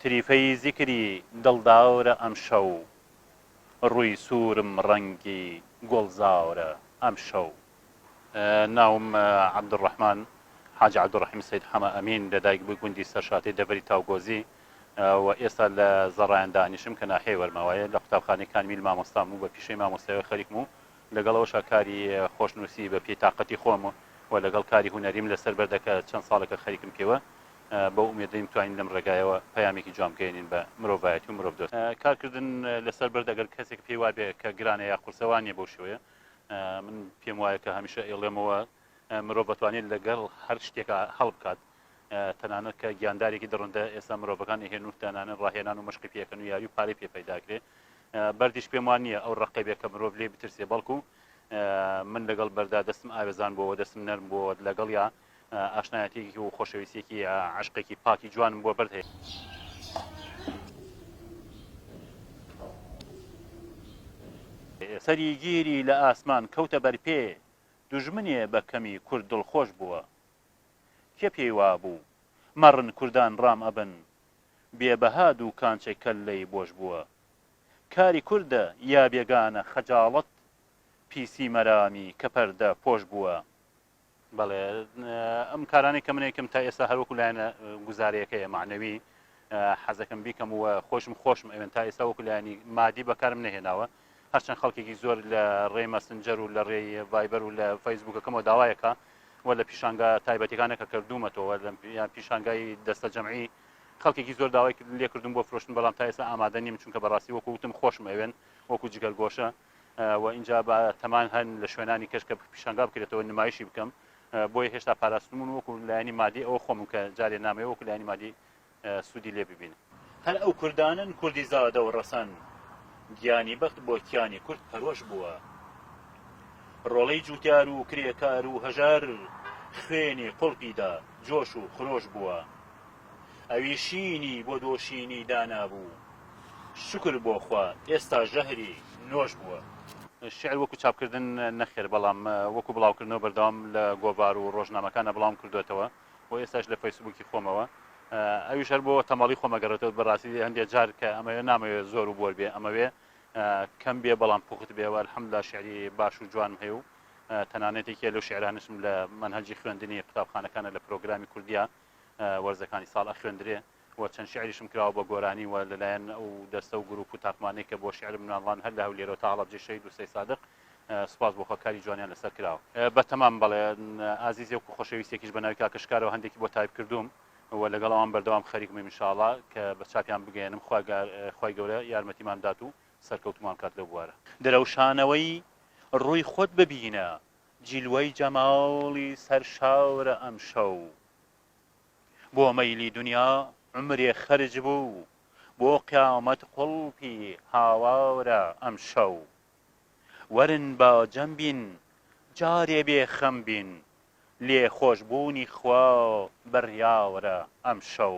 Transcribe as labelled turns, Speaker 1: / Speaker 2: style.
Speaker 1: تریفەی زیکری دڵدارە ئەمشەو. ڕووی سوورم ڕەنگی گوڵزارە ئەمشەو. ناوم عەبدولڕەحمان حاجی عەبدولڕەحیم سەید حەمە ئەمین، لە دایک بووی گوندی سەرشاتی دەڤەری تاوگۆزی و ئێستا لە زەڕایان دانیشم کە ناحیەی وەرماوایە، لە قوتابخانەی کانمیل مامۆستام و بە پیشەی مامۆستایەوە خەریکم و لەگەڵ ئەوەشا کاری خۆشنووسی بە پێی تاقەتی خۆم و لەگەڵ کاری هونەریم لەسەر بەردە کە چەند ساڵێکە خەریکم پێوە، بەو ئومێدەی بتوانین لەم ڕێگایەوە پەیامێکی جوان بگەیەنین بە مرۆڤایەتی و مرۆڤدۆست. کارکردن لەسەر بەرد ئەگەر کەسێک پێی وابێ کە گرانە یا قورسە وا نییە، بەو شێوەیە من پێم وایە کە هەمیشە ئەیڵێمەوە مرۆڤ ئەتوانێ لەگەڵ هەر شتێکا هەڵبکات، تەنانەت کە گیاندارێکی دڕندە ئێستا مرۆڤەکان ئەهێن و دانانن ڕاهێنان و مەشقی پێکەن و یاری و پارەی پێ پەیدا کرێ بەردیش پێم وان نییە ئەو ڕقەبێ کە مرۆڤ لێ بترسێ بەڵکو من لەگەڵ بەردا دەستم ئاوێزان بۆەوە دەستم نەرم بۆەوە لەگەڵ یا ئاشنایەتێکی و خۆشەویستێکی عشقێکی پاکی جوانم بۆ بەرد هەیە سەری گیری لە ئاسمان کەوتە بەرپێ دوژمنێ بە کەمی کورد دڵخۆش بووە کێ پێی وابوو مەڕن کوردان ڕام ئەبن بێ بەها دووکانچێ کەللەی بۆش بووە کاری کوردە یا بێگانە خەجاڵەت پیسی مەرامی کە پەردە پۆش بووە. بەڵێ ئەم کارانەی کە من ئەیکەم تا ئێستا هەر وەکو لایەنە گوزارەیەکەیە مەعنەوی حەزەکەم بیکەم و خۆشم خۆشم ئەوێن تا ئێستا وەکو لایەنی مادی بەکارم نەهێناوە هەرچەند خەڵکێکی زۆر لە ڕێی مەسنجەر و لە ڕێی ڤایبەر و لە فەیسبووکەکەمەوە داوایەکە و لە پیشانگا تایبەتەکانە کە کردوومەتەوە لە پیشانگای دەستە جەمعی خەڵکێکی زۆر داوای لێکردم بۆ فرۆشتن بەڵام تا ئێستا ئامادە نیم چونکە بەڕاستی وەکو وتم خۆشم ئەوێن وەکو جگەرگۆشە و اینجا بە تەمان هەن لە شوێنانی کەش کە پیشنگا بکرێتەوە نمایشی بکەم بۆیە هێشتا پاراستمون وەکو لایانی مادی ئەوە خۆم کە جارێ نامەیە وەکو لایانی مادی سودی لێ ببینن. هەر ئەو کوردانەن کوردی زادە و ڕەسەن گیانی بەخت بۆ کیانی کورد پەرۆش بووە. ڕۆڵەی جوتیار و کرێکار و هەژار خوێنی قوڵپی دا جۆش و خرۆش بووە. ئەوی شینی بۆ دۆشینی دانابوو. شوکر بۆ خوا ئێستا ژەهری نۆش بووە. شیعر وەکو چاپکردن نەخێر بەڵام وەکو بڵاوکردنەوە بەردەوام لە گۆڤار و ڕۆژنامەکاندا بڵاوم کردۆتەوە. بۆ ئێستاش لە فەیسبووکی خۆمەوە ئەویش هەر بۆ تەمەڵی خۆمە گەڕێتەوە بەڕاستی هەندێک جار کە ئەمەوێ نامەوێ زۆر و بۆر بێ ئەمەوێ کەم بێ بەڵام پوخت بێەوە حمدا شعری باش و جوانم هەیە و تەنانەتێکیە لەو شعرانشم لە منهجی خوێندنی قوتابخانەکانە لە پرۆگرامی کوردیا وەرزەکانی ساڵ ئەخوێندرێ و چەند شیعریشم کراوە بە گۆرانی و لەلایەن ئەو دەستە و گروپ و تاقمانەی کە بۆ شیعرم نواندڵان هەر لە هەولێرەوە تا هەڵەبجەی شەهید و سەیسادق سوپاس بۆ خوا کاری جوانیان لەسەر کراوە. بە تەمام بەڵێ ئازیزێک و خۆشەویستێکیش بە ناوی کاکە شکارەوە هەندێکی بۆ تایپ کردووم و لەگەڵ ئەوان بەردەوام خەریکم ان شاء اللە کە بە چاپیان بگەیەنم خوا گار خوای گەورە یارمەتیمان بدات و سەرکەوتومان بکات لەو بوارە. درەوشانەوەی ڕووی خۆت ببینە جیلوەی جەماڵی سەرشاورە ئەمشەو. بۆ مەیلی دونیا عومرێ خەرج بوو بۆ قیامەت قوڵپی هاوارە ئەمشەو وەرن با جەم بین جارێ بێ خەم بین لێ خۆش بوونی خوا بڕیارە ئەمشەو.